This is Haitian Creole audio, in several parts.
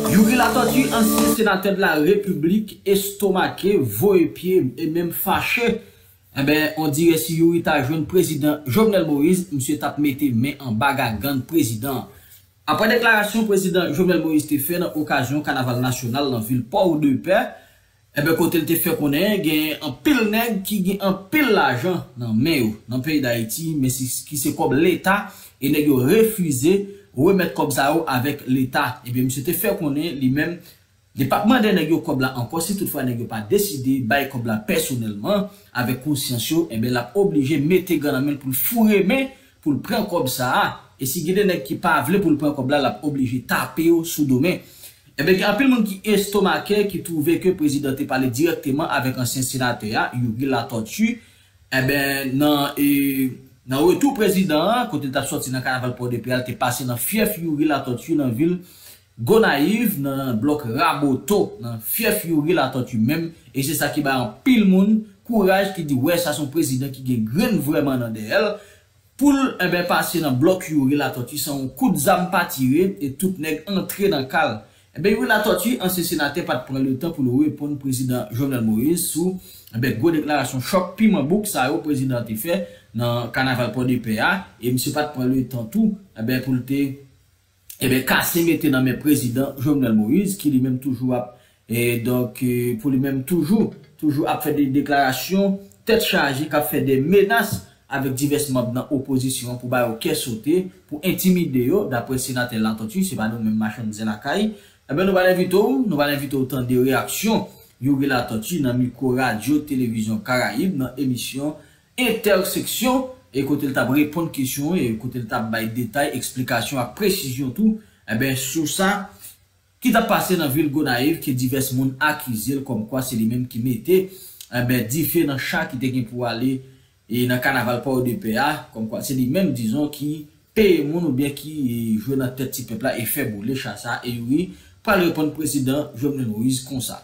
Youri Latortue ansyen senatè de la repiblik estomake, voye pye e menm fache, enben on dirè si Youri ta jwenn prezidan Jovenel Moïse misye tap mete men anba gagann prezidan an. Aprè deklarasyon prezidan Jovenel Moïse te fè nan okazyon kanaval nasyonal nan vil Port-de-Paix, Enben kote l te fè konnen genyen anpil nèg ki gen anpil lajan nan men yo nan peyi Dayiti men ki se kòb leta e nèg yo refize remèt kòb sa yo avèk leta. Enben misye te fè konnen li menm li pap mande nèg yo kòb la ankò si tout fwa nèg yo pa deside bay kòb la pèsonèlman avèk konsyans yo enben lap oblije mete gan nan men l pou l foure men poul pran kòb sa a e si gen de nèg ki pa vle poul pran kòb la lap oblije tape yo sou do men enben gen anpil moun ki estomake ki twouve ke prezidan te pale dirèkteman avèk ansyen senatè a Youri Latortue enben nan nan retou prezidan an kote li tap sòti nan kanaval pòdepè a li te pase nan fyèf Youri Latortue nan vil Gonayiv nan blòk Raboto nan fyèf Youri Latortue menm e se sa ki bay anpil moun kouraj ki di wè sa son prezidan ki gen grenn vrèman nan dèyè l pou l enben pase nan blòk Youri Latortue san yon kout zam pa tire e tout nèg antre nan ka l enben Youri Latortue ansyen senatè pa t pran letan pou l reponn prezidan Jovenel Moïse sou enben gwo deklarasyon chòk piman bouk sa yo prezidan an te fè nan kanaval Pòdepè a e misye pa t pran letan tou enben pou l te Ebyen kase mete nan men prezidan Jovenel Moïse ki li menm toujou ap donk pou li menm toujou toujou ap fè de deklarasyon tèt chaje kap fè de menas avèk divès manb nan opozisyon an pou ba yo kè sote pou entimide yo daprè senatè Latortue se pa nou menm machann zen lakay ebyen nou pral envite w nou pral envite w tande reyaksyon Youri Latortue nan mikwo radyo televizyon karayib nan emisyon entèseksyon e kote l t ap reponn kesyon e kote l t ap bay detay, eksplikasyon ak presizyon tou enben sou sa ki t ap pase nan vil Gonayiv ke divès moun akize l kòmkwa se li menm ki mete enben dife nan cha ki te gen pou ale e nan kanaval Pòodepè a, kòmkwa se li menm dizon ki peye moun oubyen ki jwe nan tèt ti pèp la e fè boule cha sa e youri pral reponn prezidan Jovenel Moïse konsa.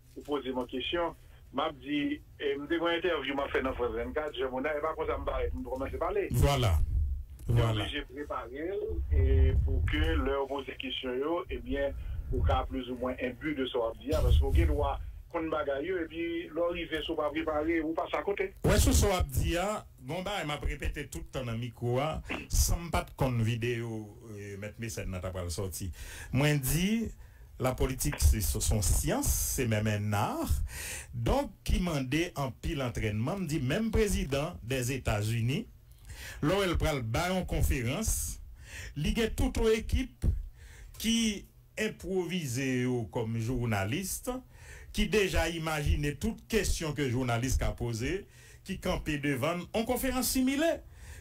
Ou poze m yon kesyon, m ap di, m te gen yon entèvyou m ap fè nan France 24, Jean Monard, e pa konsa m parèt, m kòmanse pale. Vwala, vwala. Te oblije prepare l e pou ke lè yo poze kesyon yo, ebyen, ou ka plizoumwen enbu de sa w ap di a, paske ou gen dwa konn bagay yo, epi lè w rive, si w pa prepare, ou pase akote. Ou wè sou sa w ap di a, gen yon bagay m ap repete tout tan nan mikwo a, san m pa t konn videyo Mèt Mesèn nan ta pral sòti. Mwen di. La politik se son syans, se menm un art, donk ki mande anpil antrènman, m di menm prezidan dè Etazini lè w wè l pral bay on konferans li gen tout on ekip ki enpwovize yo kòm journaliste ki deja imajine tout kesyon ke jounalis ka poze ki kanpe devan n on konferans similè.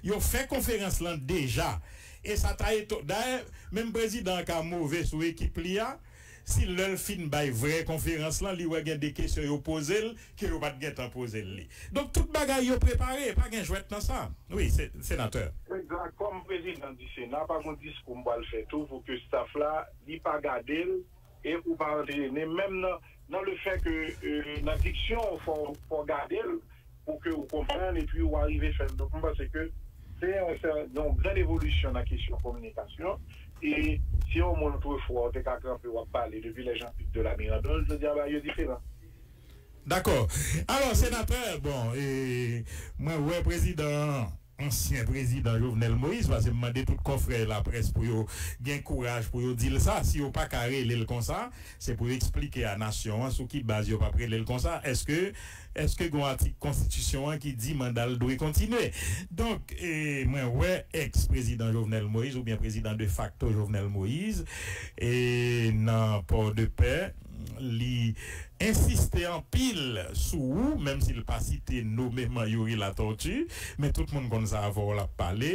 Yo fè konferans lan deja e sa ta eton. Dayè, menm prezidan an ka move sou ekip li a si lè l fin bay vrè konferans lan li wè gen de kesyon yo poze l ke yo pa t gentan poze l li. Donk tout bagay yo prepare, pa gen jwèt nan sa. Wi, se, senatè. Egzat. Kòm prezidan di Sena, pa gen yon diskou m pral fè tou pou ke staff la li pa gade l. E ou pa antre ne menm nan nan le fè ke nan diksyon ou fò fò gadel pou ke ou konprann epi ou arive fèl. Donk mwen panse ke se yon se yon grann evolisyon nan kesyon kominikasyon e si yon moun otrefwa ou te ka kanpe wap pale depi lè Jean Pic de la Mirandole jodi a bagay yo diferan. Dakò. Alò senatè bon e mwen wè prezidan an. ansyen prezidan Jovenel Moïse pase m mande tout kòfrè laprès pou yo gen kouraj pou yo di l sa, si yo pa ka rele l konsa se pou yo eksplike a nasyon an sou ki baz yo pap rele l konsa, èske èske gon atik konstitisyon an ki di manda l dwe kontinye? Donk mwen wè ex prezidan Jovenel Moïse oubyen prezidan de facto Jovenel Moïse nan port de paix. Li ensiste anpil sou ou, menm si l pa site nomeman Youri Latortue, men tout moun konn sa avè w l ap pale.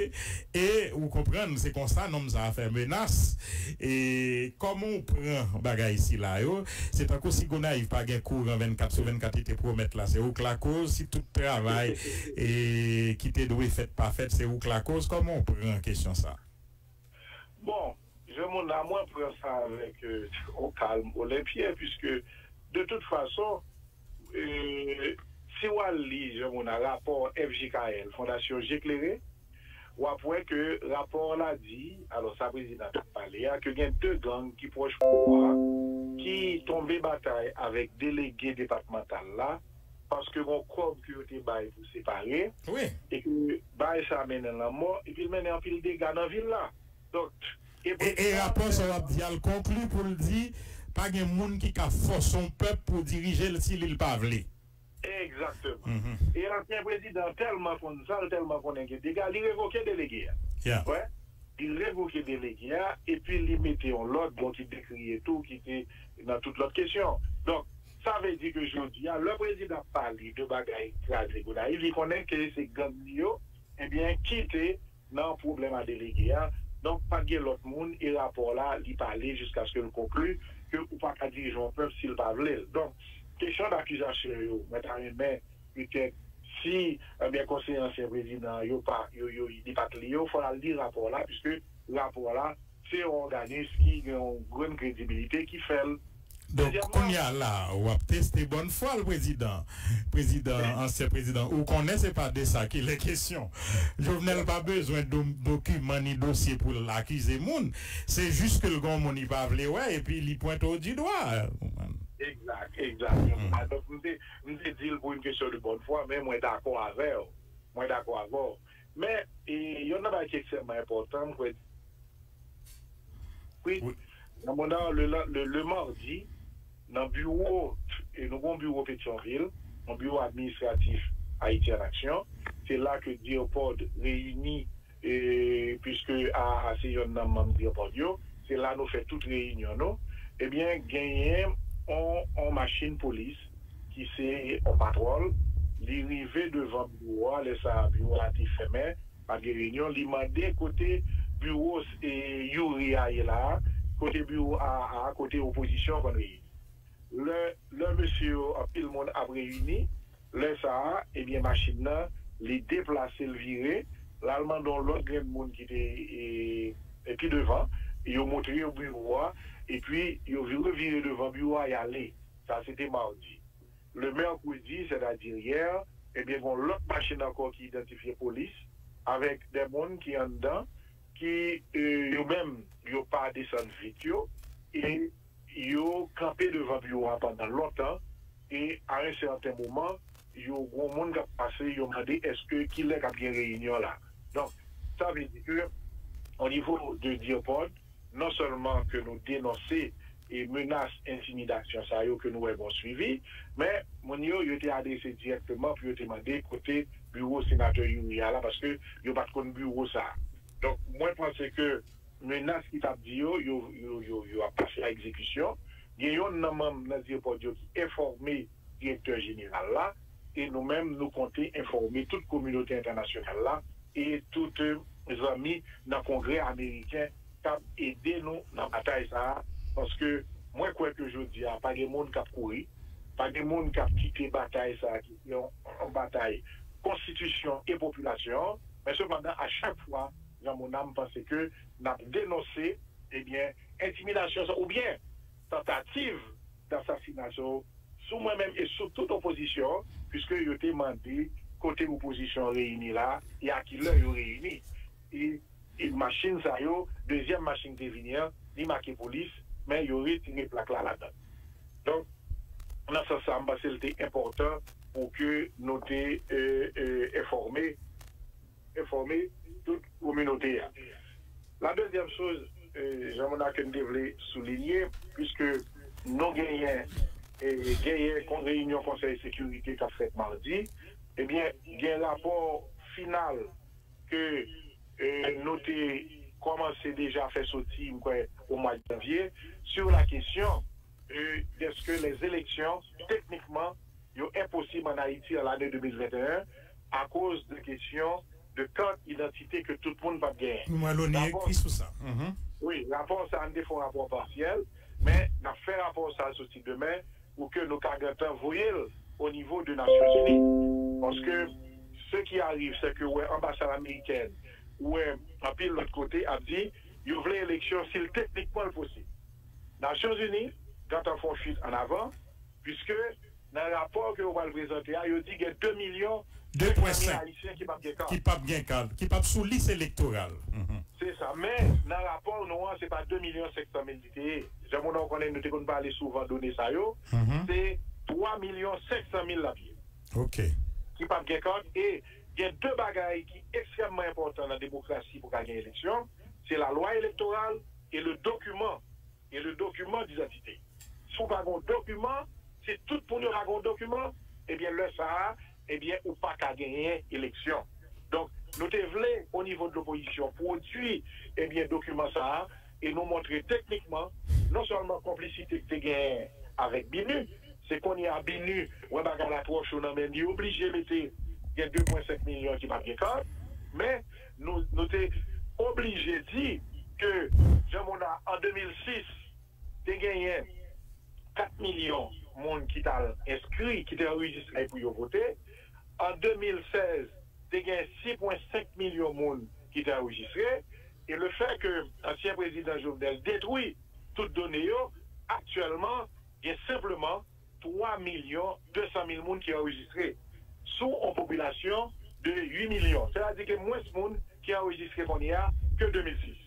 E ou konprann se konsa nonm sa a fè menas. E kòman w pran bagay sila yo? Se tankou si Gonayiv pa gen kouran 24 sou 24 li te pwomèt la, se ou k lakoz. Si tout travay ki te dwe fèt pa fèt, se ou k lakoz. Kòman w pran kesyon sa a? Bon, je mon a mwen pran sa avèk on kalm olenpyen piske de tout fason si w al li je mon a rapò FJKL, Fondasyon Je Klere, w ap wè ke rapò la di, alò sa prezidan t ap pale a, ke gen 2 gang ki pwòch pouvwa a ki tonbe batay avèk delege depatmantal la paske gen yon kòb ke yo te bay pou separe e ke Baay sa mennen lanmò epi l mennen anpil dega nan vil la. Doct. Ebreu 3 vèsè 1. E rapò sa w ap di a l konkli pou l di, Pa gen moun ki ka fòse on pèp pou dirije l si li l pa vle. Egzakteman. E ansyen prezidan an tèlman konn sa, l tèlman konnen gen dega, li revoke delege a. Yeah. Wè? Li revoke delege a epi li mete on lòt, bon ki dekri e tou ki te nan tout lòt kesyon. Donk. Sa vle di ke jodi a, lè prezidan ap pale de bagay kraze Gonayiv, li konnen ke se gang li yo, ebyen ki te nan pwoblèm a delege a, donk pa t gen lòt moun e rapò la li pale jiskaske l konkli ke ou pa ka dirije yon pèp si l pa vle l. Donk kesyon dakizasyon yo, mwen ta renmen petèt si ebyen konseye ansyen prezidan an yo pa yo yo li pa t li yo, fò l al li rapò la piske rapò la. Se yon òganis ki gen yon grenn kredibilite ki fè l. Donk kounye a la w ap teste bòn fwa l prezidan. Prezidan, ansyen prezidan, ou konnen se pa de sa ki lè kesyon. Jovenel pa bezwen dokiman ni dosye pou l akize moun. Se jis ke l gen yon moun li pa vle wè epi li pwente w di dwa. Ou konprann? Egzat, egzat. Mwen konprann. Donk m te di l pou yon kesyon de bòn fwa men mwen dakò avè w. Mwen dakò avè w. Men, youn nan bagay ki ekstrèmman enpòtan, m kwè, wi, nan moman an, le le mardi, nan biwo, nou gen yon biwo Petyonvil, yon biwo administratif Ayiti an Aksyon, se la ke DIRPOD reyini, puiske aa se youn nan manm DIRPOD yo, se la nou fè tout reyinyon nou, ebyen, genyen yon machin polis, ki se on patwòl, li rive devan biwo a, lè sa a biwo a te fèmen, pa t gen reyinyon, li mande kote biwo Youri a ye la a, kote biwo aa a, kote opozisyon an konn reyini. Lè lè mesye yo, anpil moun ap reyini, lè sa a, ebyen machin nan li deplase l vire, l al mande on lòt grenn moun ki te pi devan, yo montre yo biwo a, epi yo revire devan biwo a y ale. Sa se te madi. Le mercredi, sètadi yè, ebyen gon lòt machin ankò ki idantifye polis avèk 2 moun ki anndan ki yo menm yo pa desann vit yo e yo kanpe devan biwo a pandan lontan e a un certain moman yo gon moun kap pase yo mande eske kilè kap gen reyinyon la. Donk sa vle di ke au niveau de DIRPOD non sèlman ke nou denonse e menas entimidasyon sa yo ke nou wè gon swivi, men moun yo, yo te adrese dirèkteman pou yo te mande kote biwo Senatè Youri a la paske yo pat konn biwo sa. Donk mwen panse ke menas ki tap di yo, yo ap pase a egzekisyon. Gen yonn nan manm nan Dierpod yo ki enfòme. Direktè Jeneral la, e nou menm nou konte enfòme tout kominote entènasyonal la e tout zanmi nan Kongrè Ameriken k ap ede nou nan batay sa a, paske mwen kwè ke jodi a pa gen moun k ap kouri, pa gen moun k ap kite batay sa a ki se yon batay konstitisyon e popilasyon an, men sepandan a chak fwa Jean Monnet m panse ke n ap denonse ebyen entimidasyon sa a oubyen. tantativ dansasina so sou mwen menm e sou tout opozisyon pwiske yo te mande kote opozisyon reyini la e a ki lè yo reyini e machin sa yo dezyèm machin te vini an li make polis men yo retire plak la ladan l donk nan sans sa m panse l te enpòtan pou ke nou te enfòme. enfòme tout kominote a. La dezyèm choz Jean Monarque m te vle soulinye puiske nou genyen genyen kon reyinyon konsèy sekirite k ap fèt madi ebyen gen rapò final ke nou te kòmanse deja fè soti m kwè o mwa janvye sur la kesyon dèske lèzeleksyon teknikman yo enposib an Ayiti an lane 2021 akoz de kesyon de kart idantite ke tout moun pap genyen. Nou wè loni ekri sou sa. Wi, rapò sa a, n te fè yon rapò pasyèl, men n ap fè rapò sa a soti demen pou ke nou ka gentan voye l o nivo de Nasyonzini. Paske se ki ariv se ke ou wè anbasad amerikèn, ou wè anpil lòt kote ap di yo vle eleksyon si l teknikman l posib. Nasyonzini gentan fè yon fuit an avan. Piske, nan rapò ke yo pral prezante a, yo di gen 2 milyon 200 mil Ayisyen ki pap gen kad. Ki pap gen kad, ki pap sou lis elektoral. Se sa. Men, nan rapò nou an, se pa 2 milyon 500 mil li te ye. Jan Mona ou konnen nou te konn pale souvan done sa yo. Se 3 milyon 500 mil l ap ye. Ok. Ki pap gen kad. E, gen 2 bagay ki ekstrèmman enpòtan nan demokrasi pou ka gen eleksyon. Se lalwa elektoral e le dokiman. E le document d'identité. Si w pa gen yon dokiman, si tout moun yo pa gen yon dokiman, ebyen lè sa a, ebyen ou pa ka genyen eleksyon. Donk, nou te vle o nivo de l'opposition pwodui, ebyen dokiman sa a e nou montre teknikman non sèlman konplisite ki te genyen avèk BINUH, se kounye a BINUH wè bagay la twò cho nan men li oblije mete gen 2 pwen 5 milyon ki pa t gen kart, men. Nou te oblije di ke Jean Monard an 2006 te genyen 4 milyon moun ki t al enskri, ki te anrejistre pou yo vote. An 2016, te gen 6 pwen 5 milyon moun ki te anrejistre. E le fè ke ansyen prezidan Jovenel detwi tout done yo, aktyèlman gen senpleman. 3 milyon 200 mil moun ki anrejistre sou on popilasyon de 8 milyon, sètadi ke mwens moun ki anrejistre kounye a ke 2006.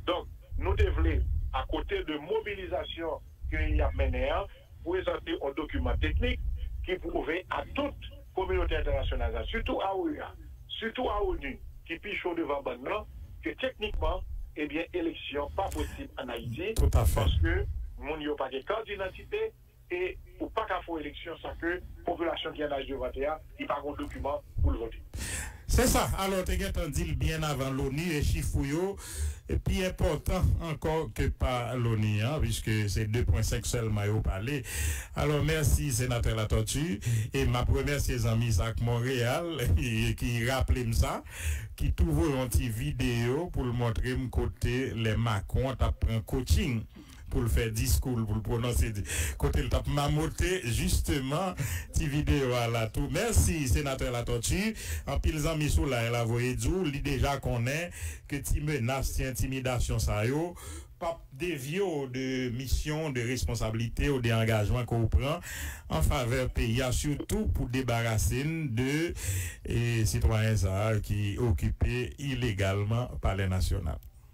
Donk, nou te vle, akote de mobilizasyon ke y ap mennen an, prezante on dokiman teknik ki pwouve a tout kominote entènasyonal la, sitou a OEA, sitou a onu, ki pi cho devan bann nan, ke teknikman, ebyen, eleksyon pa posib an Ayiti, paske moun yo pa gen kat didantite. Vérité e ou paka fè yon eleksyon san ke popilasyon ki an aj de vote a li pa gen yon dokiman poul vote. Se sa, alò ou te gentan dil byen avan loni e chif ou yo pi enpòtan ankò ke pa loni an piske se 2 pwen 5 sèlman yo pale. Alò mèsi Senatè Latortue e map remèsye zanmi sa k Montréal ki raplem sa ki tou voye yon ti video poul montrem kote lè Macron tap pran coaching. pou l fè diskou l, pou l pwononse di, kote l t ap mamote jisteman ti videyo a la tou. Mèsi Senatè Latortue. Anpil zanmi sou line la voye di w li deja konnen ke ti menas, ti entimidasyon sa yo p ap devye w de misyon w, de responsablite w, de angajman ke w pran an favè peyi a, sitou pou debarase n de sitwayen sa a ki okipe ilegalman Palè Nasyonal.